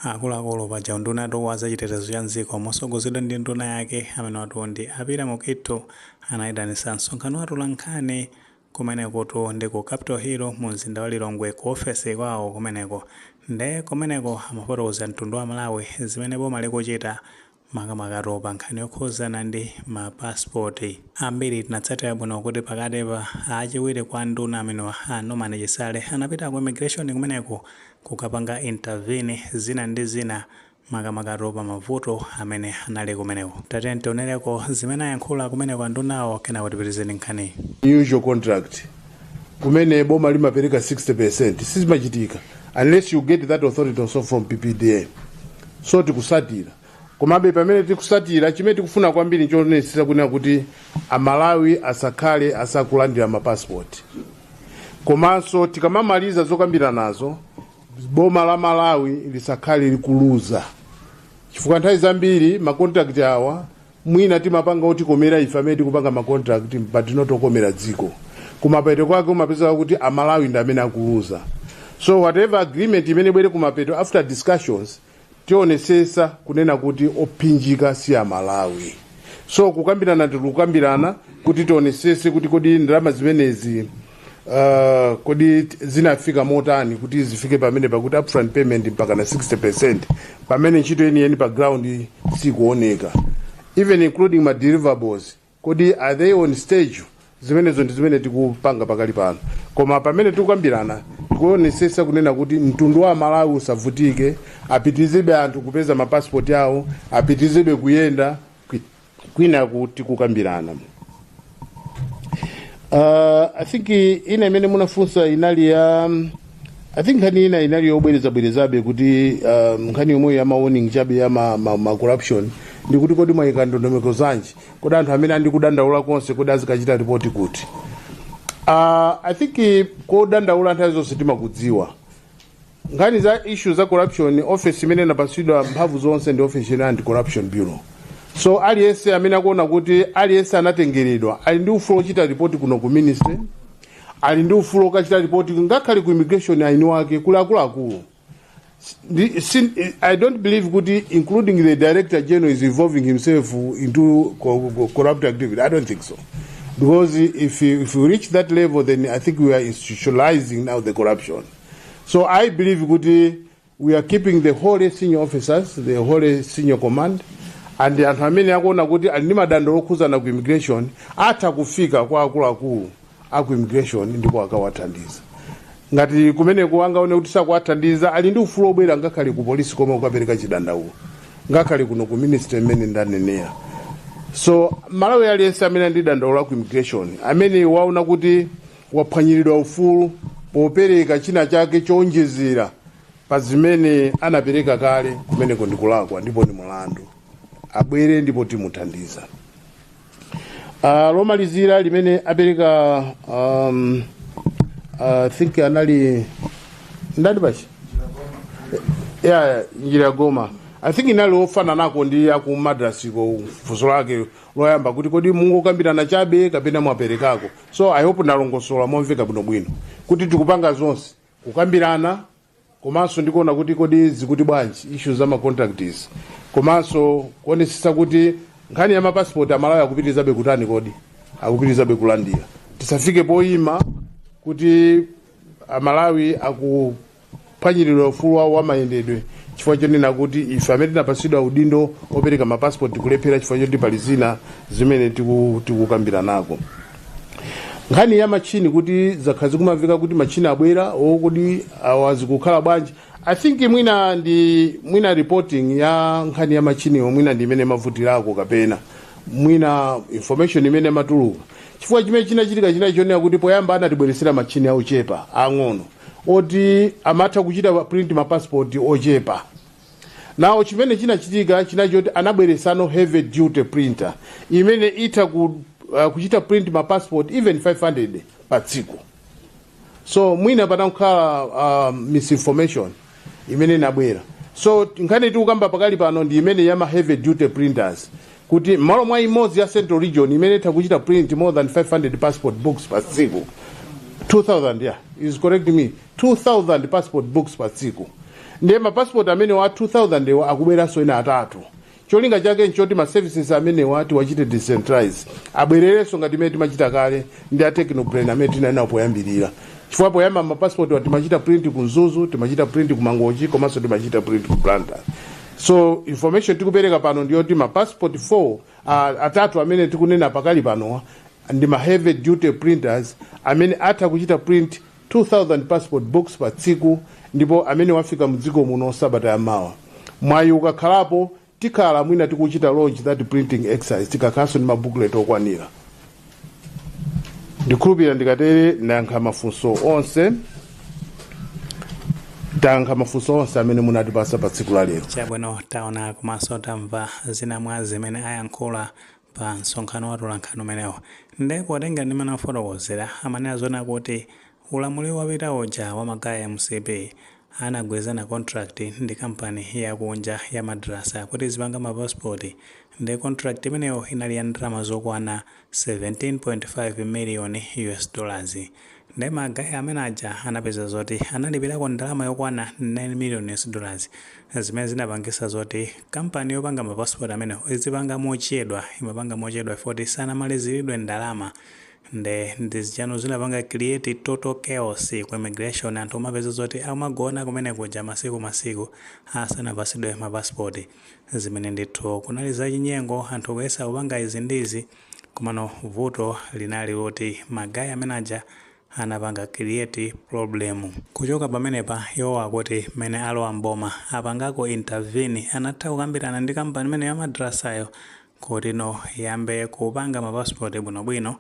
Akuluakulu paja undunatu wa zachitetezo cha m'dziko motsogozedwa ndi nduna yake amenewatu ndi a Peter Mukhito anaitanisa msonkhano wa atolankhani kumenekutu ndi ku Capital Hill mu mzinda wa Lilongwe ku ofesi kwao kumeneko nde kumeneko amafotokozera mtundu wa Amalawi zimene boma likuchita makamakatu pa nkhani yokhuzana ndi ma passport. Ambiri tinatsatira bwino kuti pakatipa, achiwiri kwa nduna amenewa a Norman Chisale anapita ku immigration kumeneko kukapanga intervene zina ndi zina makamakatu pa mavuto amene anali kumeneko. Tatiyeni tionereko zimene ayankhula kumeneko andunawo kenako tipitirize ndi nkhaniyi. Usual contract kumene boma limapereka 60% sizimachitika unless you get that authority also from ppda so tikusatira komabe pamene tikusatira chimene tikufuna kwambiri nchonesesa kunena kuti amalawi asakhale asakulandira mapasipoti komanso tikamamaliza zokambiranazo boma la malawi lisakhale likuluza chifukwa nthawi zambiri macontract awa mwina timapanga otikomera ife amene tikupanga macontract but not okomera dziko kumapeto kwake umapezeka kuti amalawi ndi amene akuluza so whatever agreement imene ibwere kumapeto after discussions tionesesa kunena kuti ophinjika si amalawi so kukambirana tikukambirana kuti tionesese kuti kodi ndalama zimenezi Uh, kodi t- zinafika motani kuti zifike pamene pakuti upfront payment mpaka na 60 pamene ntchito yeniyeni pa ground sikuoneka even including ma deliverables kodi are they on stage zimenezo ndi zimene tikupanga pakali pano koma pamene tikukambirana tikuonesesa kunena kuti mtundu wa amalawi usavutike apitizebe anthu kupeza mapasipoti awo apitizebe kuyenda kwinaku tikukambirana uh, i think ina imene munafunsa inali ya um, i think nkhani ina inali yobwerezabwerezabe kuti uh, nkhani yomwe ya mawarning chabe ya ma, ma, ma corruption ndi kuti kodi mwayika ndondomeko zanji kodi anthu amene ali ndi kudandaula konse kodi azikachita ripoti kuti uh, i think kodandaula nthawi zonse timakudziwa nkhani za issue za corruption office imene inapatsidwa mphamvu zonse ndi office ya anti corruption bureau so aliyense amene akuona kuti aliyense anatengeredwa ali ndi ufulu ochita ripoti kuno ku ministry ali ndi ufulu okachita ripoti ngakhale ku immigration eni ake kuli akuluakulu Ndi- sin- i don't believe kuti including the director general is involving himself into co- co- corrupt activity i don't think so because if you, if you reach that level then i think we are institutionalizing now the corruption So I believe kuti we are keeping the whole senior officers, the whole senior command and anthu amene akuona kuti ali ndi madandaulo okhuzana ku immigration atha kufika kwa akuluakulu a ku immigration ndipo akawathandiza ngati kumeneko angaone kuti sakuwathandiza ali ndi ufulu obwera ngakhale ku polisi kuti akapereke chidandaulo ngakhale kuno ku ministry mmene ndanenera so mmalawi aliyense amene ali ndi dandaulo la ku immigration amene waona kuti waphwanyiridwa ufulu popereka china chake chowonjezera pa zimene anapereka kale kumeneko ndikulakwa ndipo ndi mulandu abwere ndipo timuthandiza uh, lomalizira limene apereka um, uh, think anali ndani pachi yeah, njira ya goma i think inali ofananako ndi aku madrasiko funso lake loyamba kuti kodi mungokambirana chabe kapena mwaperekako so i hope ndalongosola momveka bwinobwino kuti tikupanga zonse kukambirana komanso ndikuona kuti kodi zikuti bwanji issue za macontracts komanso kuonesesa kuti nkhani ya mapasipoti amalawi akupitirizabe kutani kodi akupitirizabe kulandira tisafike poyima kuti amalawi akuphwanyiridwa ufulu wawo wa mayendedwe chifukwa chonena kuti ife amene tinapatsidwa udindo opereka mapasipoti tikulephera chifukwa choti pali zina zimene tiku- tikukambiranako nkhani ya matchini kuti zakhala zikumamveka kuti matchini abwera kodi awa zikukhala bwanji i think mwina ndi mwina reporting ya nkhani ya matchiniwo mwina ndi imene imavutirako kapena mwina information imene imatuluka Chifukwa chimene chinachitika chinali chonena kuti poyamba anatibweretsera matchini ochepa aang'ono oti amatha kuchita print mapasipoti ochepa now chimene chinachitika chinali choti anabweretsano heavy duty printer imene itha ku, uh, kuchita print mapasipoti even 500 pa tsiku so mwina panangokhala uh, misinformation imene inabwera so nkhani tikukamba pakali pano ndi imene yama heavy duty printers kuti mmalo mwa imodzi ya central region imene itha kuchita print more than 500 passport books pa tsiku 2000 yeah he's correcting me 2000 passport books pa tsiku ndiye mapassport amenewa a 2000 ewa akubweranso ena atatu Cholinga chake n'choti ma services amenewa tiwachite decentralize, abwererenso ngati mmene timachita kale ndi a Technobrain amene tinali nawo poyambirira. Chifukwa poyamba ma passportwa timachita print ku Mzuzu, timachita print ku Mangochi komanso timachita print ku Blantyre. So information tikupereka pano ndi yoti ma passport 4 uh, atatu amene tikunena pakali panowa ndi ma heavy duty printers amene atha kuchita print 2000 passport books pa tsiku ndipo amenewa afika mdziko muno sabata ya mawa mwayi ukakhalapo tikhala mwina tikuchita launch that printing exercise tikakhalanso ndi mabooklet okwanira ndikhulupirira ndikatere ndayankha mafunso onse tayankha mafunso onse amene munatipasa pa tsiku la lero chabwino taona komanso tamva zina mwa zimene ayankhula pa msonkhano wa atolankhani umenewo. Nde potengera ndi mmene akufotokozera, amanena zonena kuti ulamuliro wapita uja wa ma guy a MCP anagwirizana contract ndi company ya kunja ya Madrassa kuti izipanga ma passport nde contract imeneyo inali ya ndalama zokwana 17.5 million US dollars. Nde ma guy amene aja anapeza zoti analipilako ndalama yokwana 9 million US dollars zimene zinapangisa zoti company yopanga ma passport amenewo izipanga mochedwa imapanga mochedwa chifukwa choti sanamalizilidwe ndalama nde ndi zija no zinapanga create total chaos ku immigration anthu kumapeza zoti akumagona kumene kuja masiku masiku asanapasidwe ma passport zimene ndithu kunali zachinyengo anthu kuyesa kupanga izi ndi izi Komano vuto linali loti ma guy amene aja anapanga create problem. Kuchoka pamenepa iwo akuti mmene alowa m'boma apangako intervene anatha kukambirana ndi company imeneyo ya madrassa yo kuti no iyambe kupanga ma passport bwino bwino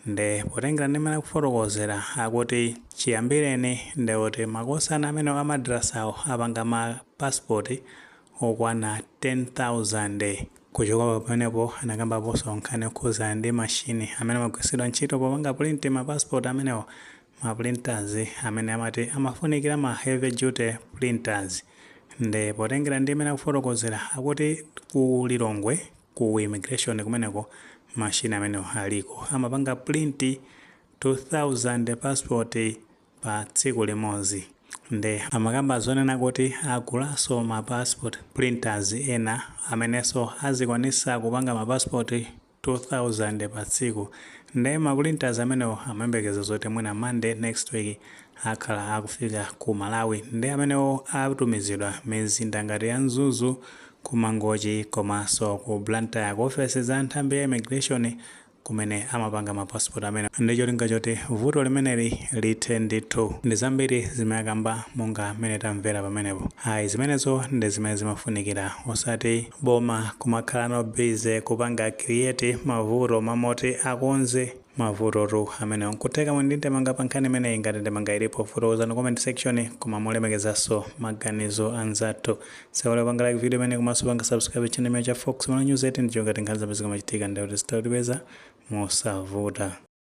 nde potengera ndi mmene akufotokozera akuti chiyambireni ndekuti makosana amenewo a madrassa wo apanga ma passport okwana 10,000. Kuchoka pamenepo, anakambaponso nkhani yokhudzana ndi mashini amene amagwilitsidwa ntchito popanga print mapasipoti amenewo, maprinters, amene amati amafunikila ma heavy duty printers. Nde potengela ndi mmene akufotokozela, akuti ku Lilongwe ku immigration kumeneko, mashini amenewo aliko, amapanga print 2,000 passport pa tsiku limodzi nde amakamba zonena kuti agulaso ma passport printers ena ameneso azikwanisa kupanga ma passport 2000 pa tsiku nde ma printers amenewo amayembekeza zoti mwina monday next week akhala akufika ku malawi nde amenewo atumizidwa mizinda ngati ya mzuzu, ku mangochi komaso ku blantyre ku ofesi za nthambi ya immigration kumene amapanga ma passport amenewa ndicholinga choti vuto limeneli lithe ndithu. Ndizambiri zimene akamba monga mmene tamvera pamenepo. Ayi zimenezo ndi zimene zimafunikira osati boma kumakhala no busy kupanga create mavuto m'malo moti akonze mavutotu amenewo. Nkutheka muli ndi ndemanga pa nkhani imeneyi? Ngati ndemanga ilipo fotokozani comment section koma molemekezanso maganizo anzathu. Osaiwala kupanga like video imene komanso panga subscribe channel imene cha Fox Malawi News 18 ndi cholinga choti nkhani zomwe zikamachitika ndi kuti zitha kutipeza mosavuta.